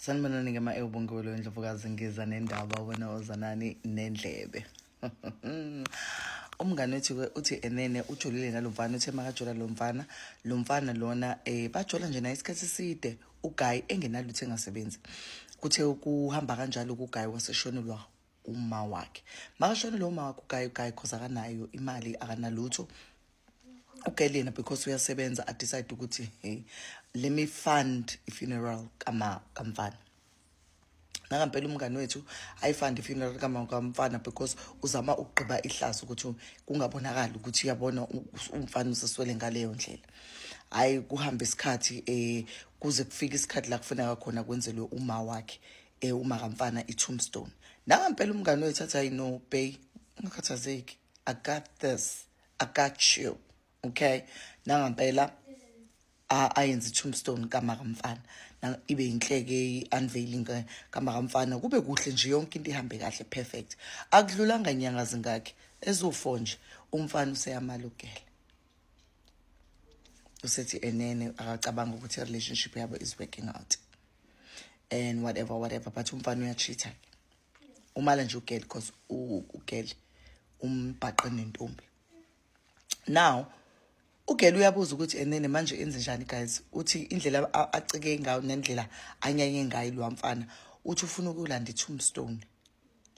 Sanibonani ngema ewubongiwelo indlovukazi ngiza nendaba wena ozanani nendlebe. umngane uthi uthi enene ujolile nalomfana uthe makajola lomfana lomfana lona eh bajola nje naye isikhathi side uguy engenalutho engasebenzi kuthe ukuhamba kanjalo kuguy waseshonelwa uma wakhe makashone lo uma wakhe ugayi ugayi cause akanayo imali akanalutho ugele yena because uyasebenza adecide ukuthi hey let me fund i-funeral kama kamfana nakampela umngane wethu ayifande ifuneral kama kamfana because uzama ukugqiba ihlazo ukuthi kungabonakali ukuthi uyabona umfana useswele ngaleyo ndlela hayi kuhamba isikhathi um kuze kufike isikhathi la kufuneka khona kwenzelwe uma wakhe eh uma kamfana i tombstone nanga impela umngane wethu athi no bay ungakhathazeki i got this i got you okay nanga impela ayenze tombstone kama kamfana ibe inhleke unveiling kama kamfana kube kuhle nje yonke into ihambe kahle perfect akudlulanga inyanga zingakhe ezofo nje umfana useyamalukela usethi enene akacabanga ukuthi relationship yabo is working out and whatever whatever but umfana uyachitha ke umala nje ugirl because ugirl umbhaqe nentombi now ugirl uyabuza ukuthi enene manje enze njani guys uthi indlela acike ngayo nendlela anyanye ngayo lo mfana uthi ufuna ukulanda ithumstone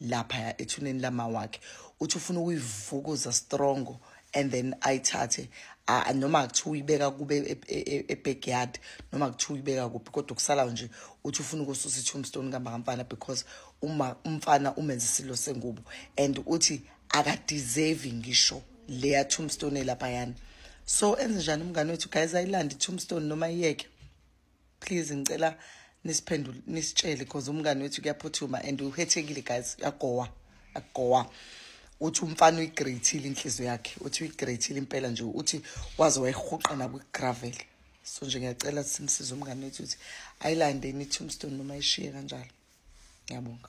laphaya ethuneni lamawakhe uthi ufuna ukuyivukuza strongo and then ayithathe noma kuthiwa uyibeka kube e, e, e, ebackyard noma kuthiwa uyibeka kuphi kodwa kusala nje uthi ufuna ukususa i-tombstone kamba kamfana because uma umfana umenza isilo sengubo and uthi akadeserve ngisho leya tombstone laphayana so enze njani umngane wethu guys ayilande i-tombstone noma iyeke please ngicela nisiphendule nisitshele because umngane wethu kuyaphuthuma and uhethekile guys yagowa yagowa uthi umfana uyigreyithile inhliziyo yakhe uthi uyigreyithile impela nje uthi waze wayihuqa nakwigravel so nje ngiyacela simsize umngane wethu ukuthi ayilande ini-tombstone noma ishiye kanjalo ngiyabonga